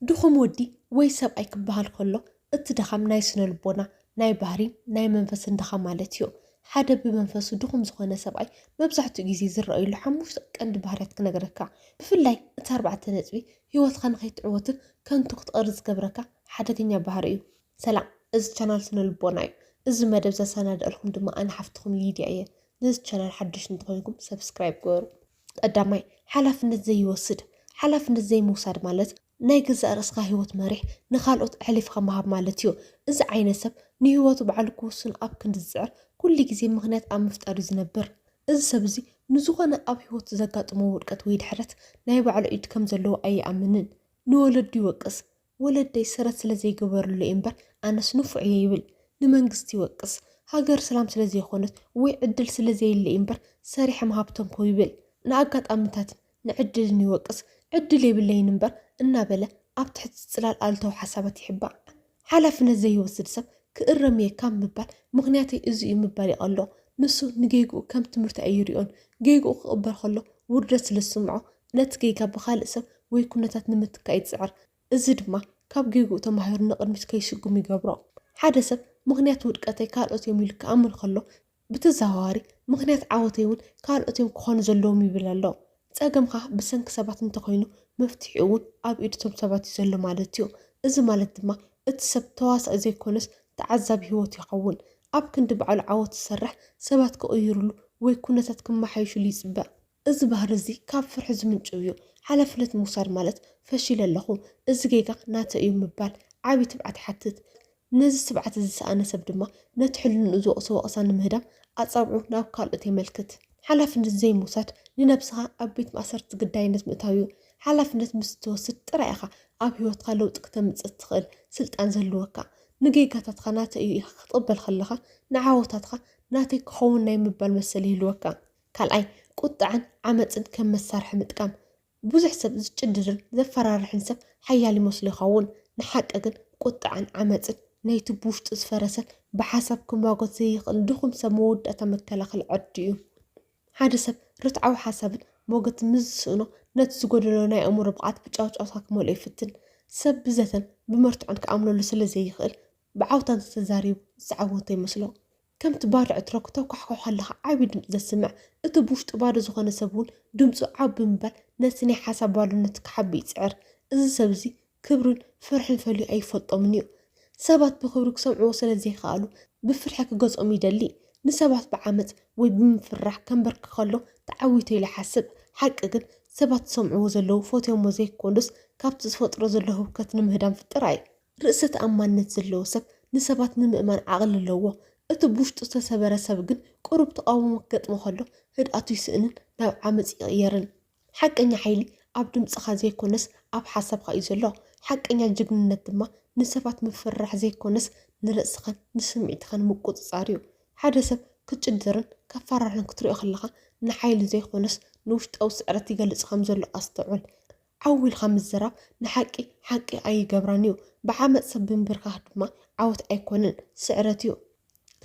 ድኹም ወዲ ወይ ሰብኣይ ክበሃል ከሎ እቲ ድኻም ናይ ስነልቦና፣ ናይ ባህሪን ናይ መንፈስን ድኻም ማለት እዩ። ሓደ ብመንፈሱ ድኹም ዝኾነ ሰብኣይ መብዛሕትኡ ግዜ ዝረኣዩሉ ሓሙሽተ ቀንዲ ባህርያት ክነግረካ። ብፍላይ እቲ ኣርባዕተ ነጥቢ ህይወትካ ንኸይትዕወትን ከንቱ ክትቐርን ዝገብረካ ሓደገኛ ባህሪ እዩ። ሰላም እዚ ቻናል ስነልቦና እዩ። እዚ መደብ ዘሰናደኣልኩም ድማ ኣነ ሓፍትኹም ሊድያ እየ። ነዚ ቻናል ሓዱሽ እንተኾይንኩም ሰብስክራይብ ግበሩ። ቀዳማይ፣ ሓላፍነት ዘይወስድ፣ ሓላፍነት ዘይምውሳድ ማለት ናይ ገዛእ ርእስኻ ህይወት መሪሕ ንኻልኦት ኣሕሊፍኻ ምሃብ ማለት እዩ። እዚ ዓይነት ሰብ ንህይወቱ ባዕሉ ክውስን ኣብ ክንዲ ዝጽዕር ኩሉ ግዜ ምኽንያት ኣብ ምፍጣር እዩ ዝነብር። እዚ ሰብ እዚ ንዝኾነ ኣብ ህይወቱ ዘጋጥሞ ውድቀት ወይ ድሕረት ናይ ባዕሉ ኢድ ከም ዘለዎ ኣይኣምንን። ንወለዱ ይወቅስ፣ ወለደይ ሰረት ስለ ዘይገበርሉ እየ እምበር ኣነስ ንፉዕ እየ ይብል ንመንግስቲ ይወቅስ ሃገር ስላም ስለ ዘይኮነት ወይ ዕድል ስለ ዘየለ እዩ እምበር ሰሪሐ ምሃብ ተንኮው ይብል ንኣጋጣምታትን ንዕድልን ይወቅስ ዕድል የብለይን እምበር እናበለ ኣብ ትሕቲ ፅላል ኣሉታዊ ሓሳባት ይሕባእ ሓላፍነት ዘይወስድ ሰብ ክእረም እየ ካብ ምባል ምኽንያተይ እዚ እዩ ምባል ይቐሎ ንሱ ንጌግኡ ከም ትምህርቲ ኣይሪኦን ጌግኡ ክቕበል ከሎ ውርደት ስለ ዝስምዖ ነቲ ጌጋ ብኻልእ ሰብ ወይ ኵነታት ንምትካእ ይጽዕር፣ እዚ ድማ ካብ ጌግኡ ተማሂሩ ንቕድሚት ከይስጕም ይገብሮ። ሓደ ሰብ ምኽንያት ውድቀተይ ካልኦት እዮም ኢሉ ክኣምን ከሎ፣ ብተዘዋዋሪ ምኽንያት ዓወተይ እውን ካልኦት እዮም ክዀኑ ዘለዎም ይብል ኣሎ። ጸገምካ ብሰንኪ ሰባት እንተ ዀይኑ፣ መፍትሒኡ እውን ኣብ ኢድ እቶም ሰባት እዩ ዘሎ ማለት እዩ። እዚ ማለት ድማ እቲ ሰብ ተዋሳኢ ዘይኰነስ ተዓዛቢ ህይወቱ ይኸውን። ኣብ ክንዲ ባዕሉ ዓወት ዝሰርሕ፣ ሰባት ክቕይሩሉ ወይ ኵነታት ክመሓየሹሉ ይጽበ። እዚ ባህሪ እዚ ካብ ፍርሒ ዝምንጭው እዩ። ሓላፍነት ምውሳድ ማለት ፈሺለ ኣለኹ፣ እዚ ጌጋ ናተይ እዩ ምባል ዓቢ ትብዓት ይሓትት። ነዚ ትብዓት እዚ ዝሰኣነ ሰብ ድማ ነቲ ሕልንኡ ዝወቕሶ ወቐሳ ንምህዳም ኣጻብዑ ናብ ካልኦት የመልክት። ሓላፍነት ዘይምውሳድ ንነብስኻ ኣብ ቤት ማእሰርቲ ግዳይነት ምእታው እዩ። ሓላፍነት ምስ እትወስድ ጥራይ ኢኻ ኣብ ህይወትካ ለውጢ ክተምጽእ እትኽእል ስልጣን ዝህልወካ። ንጌጋታትካ ናተይ እዩ ኢልካ ክትቕበል ከለኻ ንዓወታትካ ናተይ ክኸውን ናይ ምባል መሰል ይህልወካ። ካልኣይ፣ ቁጥዐን ዓመጽን ከም መሳርሒ ምጥቃም። ብዙሕ ሰብ ዝጭድርን ዘፈራርሕን ሰብ ሓያል ይመስሎ ይኸውን። ንሓቂ ግን ቁጥዐን ዓመጽን ናይቲ ብውሽጡ ዝፈረሰን ብሓሳብ ክሟጎት ዘይኽእል ድኹም ሰብ መወዳእታ መከላኸሊ ዕርዲ እዩ። ሓደ ሰብ ርትዓዊ ሓሳብን ሞገትን ምስ ዝስእኖ ነቲ ዝጎደሎ ናይ ኣእምሮ ብቕዓት ብጫውጫውታ ክመልኦ ይፍትን። ሰብ ብዘተን ብመርትዖን ክኣምነሉ ስለ ዘይኽእል ብዓውታ እንተተዛሪቡ ዝተዓወተ ይመስሎ። ከምቲ ባርዕ እትሮ ክተኳሕኩሕ ከለኻ ዓቢ ድምጺ ዘስምዕ፣ እቲ ብውሽጡ ባዶ ዝኾነ ሰብ እውን ድምጹ ዓው ብምባል ነቲ ናይ ሓሳብ ባዶነት ክሓቢ ይጽዕር። እዚ ሰብ እዚ ክብርን ፍርሕን ፈልዩ ኣይፈልጦምን እዩ። ሰባት ብኽብሪ ክሰምዕዎ ስለ ዘይከኣሉ ብፍርሒ ክገዝኦም ይደሊ። ንሰባት ብዓመጽ ወይ ብምፍርራሕ ከንበርክኽ ከሎ ተዓዊቱ ኢሉ ይሓስብ። ሓቂ ግን ሰባት ዝሰምዕዎ ዘለዉ ፈትዮሞ ዘይኮኑስ ካብቲ ዝፈጥሮ ዘሎ ህውከት ንምህዳም ጥራይ እዩ። ርእሰ ተኣማንነት ዘለዎ ሰብ ንሰባት ንምእማን ዓቕሊ ኣለዎ። እቲ ብውሽጡ ዝተሰበረ ሰብ ግን ቁሩብ ተቓውሞ ክገጥሞ ከሎ ህድኣቱ ይስእንን ናብ ዓመጽ ይቕየርን። ሓቀኛ ሓይሊ ኣብ ድምጽኻ ዘይኮነስ ኣብ ሓሳብካ እዩ ዘሎ። ሓቀኛ ጅግንነት ድማ ንሰባት ምፍርራሕ ዘይኮነስ ንርእስኻን ንስምዒትኻን ምቁጽጻር እዩ። ሓደ ሰብ ክጭድርን ከፈራርሕን ክትሪኦ ከለኻ ንሓይሊ ዘይኮነስ ንውሽጣዊ ስዕረት ይገልጽ ከምዘሎ ኣስተውዕል። ዓው ኢልካ ምዝራብ ንሓቂ ሓቂ ኣይገብራን እዩ፣ ብዓመጽ ሰብ ምብርካኽ ድማ ዓወት ኣይኮነን ስዕረት እዩ።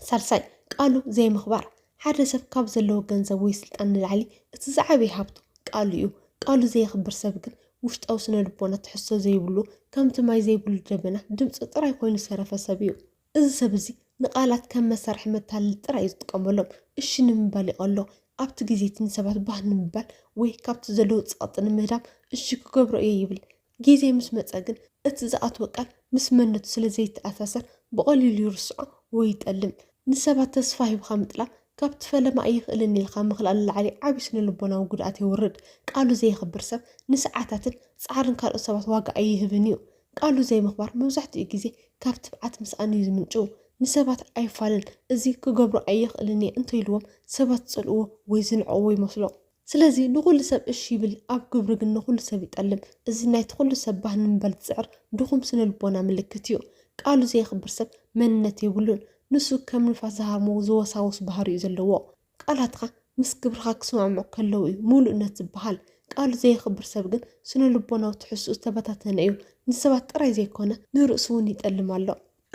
ሳልሳይ፣ ቃሉ ዘይምኽባር፣ ሓደ ሰብ ካብ ዘለዎ ገንዘብ ወይ ስልጣን ንላዕሊ እቲ ዝዓበየ ሃብቱ ቃሉ እዩ። ቃሉ ዘየኽብር ሰብ ግን ውሽጣዊ ስነ ልቦና ትሕዝቶ ዘይብሉ ከምቲ ማይ ዘይብሉ ደበና ድምጹ ጥራይ ኮይኑ ዝተረፈ ሰብ እዩ። እዚ ሰብ እዚ ንቃላት ከም መሳርሒ መታለሊ ጥራይ እዩ ዝጥቀመሎም። እሺ ንምባል ይቐሎ። ኣብቲ ግዜ እቲ ንሰባት ባህ ንምባል ወይ ካብቲ ዘለዎ ጸቕጢ ንምህዳም እሺ ክገብሮ እየ ይብል። ግዜ ምስ መጸ ግን እቲ ዝኣትወ ቃል ምስ መንነቱ ስለ ዘይተኣሳሰር ብቐሊሉ ይርስዖ ወይ ይጠልም። ንሰባት ተስፋ ሂብካ ምጥላም ካብቲ ፈለማ ኣይኽእልን ኢልካ ምኽላእ ንላዕሊ ዓቢ ስነ-ልቦናዊ ጉድኣት የውርድ። ቃሉ ዘየኽብር ሰብ ንሰዓታትን ጻዕርን ካልኦት ሰባት ዋጋ ኣይህብን እዩ። ቃሉ ዘይምኽባር መብዛሕትኡ ግዜ ካብ ትብዓት ምስኣን እዩ ዝምንጭው። ንሰባት ኣይፋልን፣ እዚ ክገብሮ ኣይኽእልን እየ እንተኢልዎም ሰባት ዝጸልእዎ ወይ ዝንዕቕዎ ይመስሎ። ስለዚ ንኹሉ ሰብ እሺ ይብል፣ ኣብ ግብሩ ግን ንኹሉ ሰብ ይጠልም። እዚ ናይቲ ኩሉ ሰብ ባህ ንምባል ዝጽዕር ድኹም ስነልቦና ምልክት እዩ። ቃሉ ዘየኽብር ሰብ መንነት የብሉን። ንሱ ከም ንፋስ ዝሃርሞ ዝወሳወስ ባህሪ'ዩ ዘለዎ። ቃላትካ ምስ ግብርኻ ክሰማምዑ ከለዉ እዩ ምሉእነት ዝበሃል። ቃሉ ዘየኽብር ሰብ ግን ስነ ልቦናዊ ትሕዝትኡ ዝተበታተነ እዩ። ንሰባት ጥራይ ዘይኮነ ንርእሱ እውን ይጠልም ኣሎ።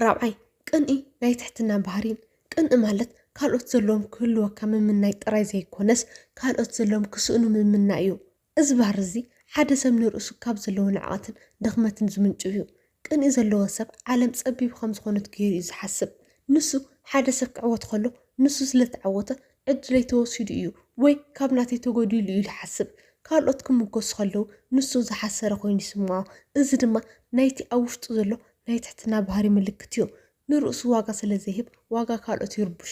ራብዓይ፣ ቅንኢ ናይ ትሕትና ባህሪን። ቅንኢ ማለት ካልኦት ዘለዎም ክህልወካ ምምናይ ጥራይ ዘይኮነስ ካልኦት ዘለዎም ክስእኑ ምምናይ እዩ። እዚ ባህሪ እዚ ሓደ ሰብ ንርእሱ ካብ ዘለዎ ንዕቐትን ድኽመትን ዝምንጩ እዩ። ቅንኢ ዘለዎ ሰብ ዓለም ጸቢብ ከም ዝኾነት ገይሩ እዩ ዝሓስብ። ንሱ ሓደ ሰብ ክዕወት ከሎ ንሱ ስለ ተዓወተ ዕድለይ ተወሲዱ እዩ ወይ ካብ ናተይ ተጎዲሉ እዩ ኢሉ ይሓስብ። ካልኦት ክምጎሱ ከለዉ ንሱ ዝሓሰረ ኮይኑ ይስምዖ። እዚ ድማ ናይቲ ኣብ ውሽጡ ዘሎ ናይ ትሕትና ባህሪ ምልክት እዩ። ንርእሱ ዋጋ ስለ ዘይህብ ዋጋ ካልኦት ይርብሾ።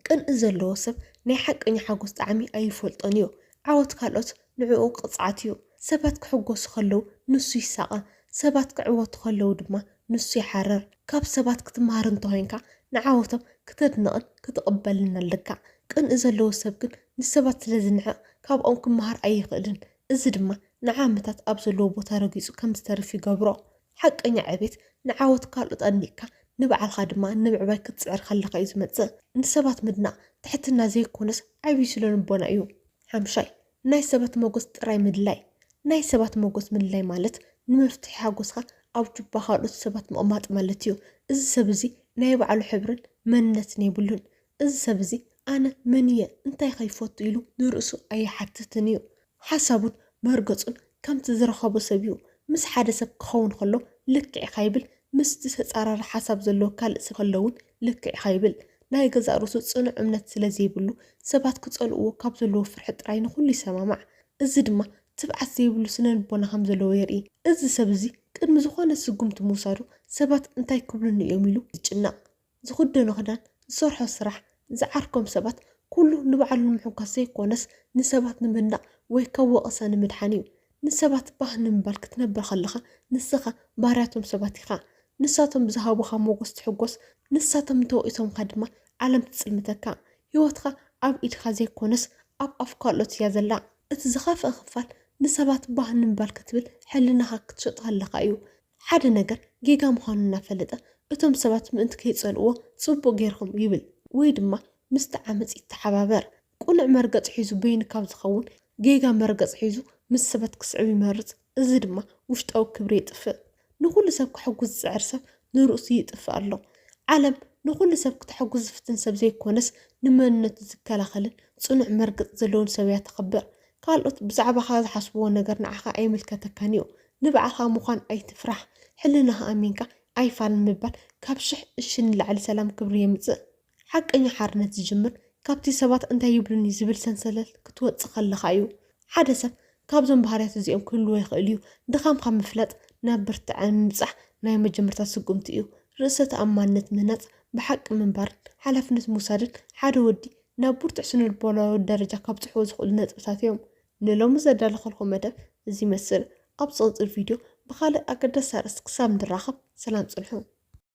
ቅንኢ ዘለዎ ሰብ ናይ ሓቀኛ ሓጎስ ጣዕሚ ኣይፈልጦን እዩ። ዓወት ካልኦት ንዕኡ ቅጽዓት እዩ። ሰባት ክሕጎሱ ከለዉ ንሱ ይሳቐ፣ ሰባት ክዕወቱ ከለዉ ድማ ንሱ ይሓርር። ካብ ሰባት ክትመሃር እንተ ዄንካ ንዓወቶም ክተድንቕን ክትቕበልን ኣለካ። ቅንኢ ዘለዎ ሰብ ግን ንሰባት ስለ ዝንዕቕ ካብኦም ክመሃር ኣይኽእልን። እዚ ድማ ንዓመታት ኣብ ዘለዎ ቦታ ረጊጹ ከም ዝተርፍ ይገብሮ። ሓቀኛ ዕቤት ንዓወት ካልኦት ኣድኒቕካ ንባዕልኻ ድማ ንምዕባይ ክትጽዕር ከለኻ እዩ ዝመጽእ። ንሰባት ምድናቕ ትሕትና ዘይኮነስ ዓቢ ስነልቦና እዩ። ሓምሻይ፣ ናይ ሰባት መጎስ ጥራይ ምድላይ። ናይ ሰባት መጎስ ምድላይ ማለት ንመፍትሒ ሓጎስካ ኣብ ጁባ ካልኦት ሰባት ምቕማጥ ማለት እዩ። እዚ ሰብ እዚ ናይ ባዕሉ ሕብርን መንነትን የብሉን። እዚ ሰብ እዚ ኣነ መን እየ እንታይ ከ ይፈቱ ኢሉ ንርእሱ ኣይሓትትን እዩ ሓሳቡን መርገጹን ከምቲ ዝረኸቦ ሰብ እዩ ምስ ሓደ ሰብ ክኸውን ከሎ ልክዕ ኢኻ ይብል ምስቲ ተጻራሪ ሓሳብ ዘለዎ ካልእ ሰብ ከሎ እውን ልክዕ ኢኻ ይብል ናይ ገዛእ ርእሱ ጽኑዕ እምነት ስለ ዘይብሉ ሰባት ክጸልእዎ ካብ ዘለዎ ፍርሒ ጥራይ ንኹሉ ይሰማማዕ እዚ ድማ ትብዓት ዘይብሉ ስነ ልቦና ከም ዘለዎ የርኢ እዚ ሰብ እዚ ቅድሚ ዝኾነ ስጉምቲ ምውሳዱ ሰባት እንታይ ክብሉኒ እዮም ኢሉ ዝጭነቕ ዝኽደኖ ክዳን፣ ዝሰርሖ ስራሕ፣ ዝዓርኮም ሰባት፣ ኩሉ ንባዕሉ ንምሕጓስ ዘይኮነስ ንሰባት ንምድናቕ ወይ ካብ ወቐሳ ንምድሓን እዩ። ንሰባት ባህ ንምባል ክትነብር ከለኻ ንስኻ ባርያ'ቶም ሰባት ኢኻ። ንሳቶም ብዝሃቡኻ ሞጎስ ትሕጎስ፣ ንሳቶም እንተወቒሶምካ ድማ ዓለም ትጽልምተካ። ህይወትካ ኣብ ኢድካ ዘይኮነስ ኣብ ኣፍ ካልኦት እያ ዘላ። እቲ ዝኸፍኣ ክፋል ንሰባት ባህ ንምባል ክትብል ሕልናኻ ክትሸጦ ከለኻ እዩ። ሓደ ነገር ጌጋ ምዃኑ እናፈለጠ እቶም ሰባት ምእንቲ ከይጸልእዎ ጽቡቕ ጌርኩም ይብል ወይ ድማ ምስቲ ዓመጽ ይተሓባበር። ቅኑዕ መርገጽ ሒዙ በይኑ ካብ ዝኸውን ጌጋ መርገጽ ሒዙ ምስ ሰባት ክስዕብ ይመርጽ። እዚ ድማ ውሽጣዊ ክብሪ የጥፍእ። ንኹሉ ሰብ ከሐጉስ ዝጽዕር ሰብ ንርእሱ ይጥፍእ ኣሎ። ዓለም ንኹሉ ሰብ ክተሐጉስ ዝፍትን ሰብ ዘይኮነስ ንመንነቱ ዝከላኸልን ጽኑዕ መርገጽ ዘለዎን ሰብ እያ ተኽብር። ካልኦት ብዛዕባኻ ዝሓስብዎ ነገር ንዓኻ ኣይምልከተካን እዩ። ንባዕኻ ምዃን ኣይትፍራሕ ሕልናኻ ኣሚንካ ኣይፋልን ምባል ካብ ሽሕ እሺ ንላዕሊ ሰላም ክብሪ የምጽእ። ሓቀኛ ሓርነት ዝጅምር ካብቲ ሰባት እንታይ ይብሉኒ ዝብል ሰንሰለት ክትወጽእ ከለኻ እዩ። ሓደ ሰብ ካብዞም ባህርያት እዚኦም ክህልዎ ይኽእል እዩ። ድኻምካ ምፍላጥ ናብ ብርትዐ ምብጻሕ ናይ መጀመርታ ስጉምቲ እዩ። ርእሰ ተኣማንነት ምህናጽ ብሓቂ ምንባርን ሓላፍነት ምውሳድን ሓደ ወዲ ናብ ብርቱዕ ስነልቦናዊ ደረጃ ከብጽሕዎ ዝኽእሉ ነጥብታት እዮም። ንሎሚ ዘዳለኹልኩም መደብ እዚ ይመስል። ኣብ ዝቕጽል ቪድዮ ብኻልእ ኣገዳሲ ኣርእስቲ ክሳብ ንራኸብ ሰላም ጽንሑ።